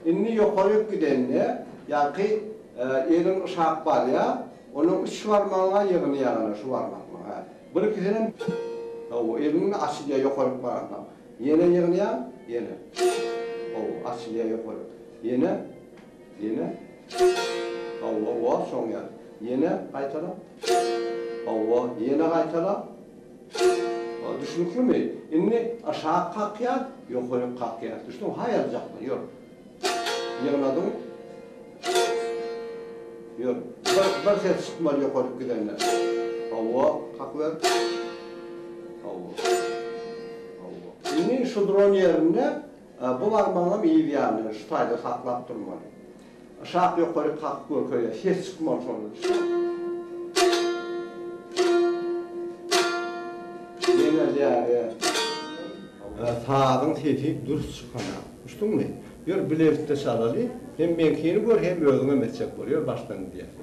Indi ýokaryk gidende, ýaňky eliň yşap barýar, onuň üç barmagyň-a ýygyny ýaňy-da şu barmaklygyň, hä. Birkisinem Hawa, eliň-de açylýar ýokaryk baransoň. Ýene ýygnaýaň, ýene. Hawa, açylýar ýokaryk. Ýene, ýene. Hawa, wah, şoň ýaly. Ýene gaýtala. Hawa, ýene gaýtala. Ol düşnüklimi? Indi aşak kakýar, ýokaryk kakýar. Düşdüňmi? Haý aljakma, ýör. Ýygnadyň. Ýör. Bir, bir ses çykmaly ýokaryk gidende. Hawa, kakyber. Hawa. Hawa. Indi şu duran ýerinde bu barmagyňam yz ýanyna şu taýda saklap durmaly. Aşak ýokaryk kakyp görkeýär. Ses çykmaly şondan. Ýeňeldýär. Sazyň sesi dürs çykanok. Düşdüňmi? Ýör bilelikde çalaly. Hem meňkini gör hem özüňem etjek bol. Ýör başdan gidýär.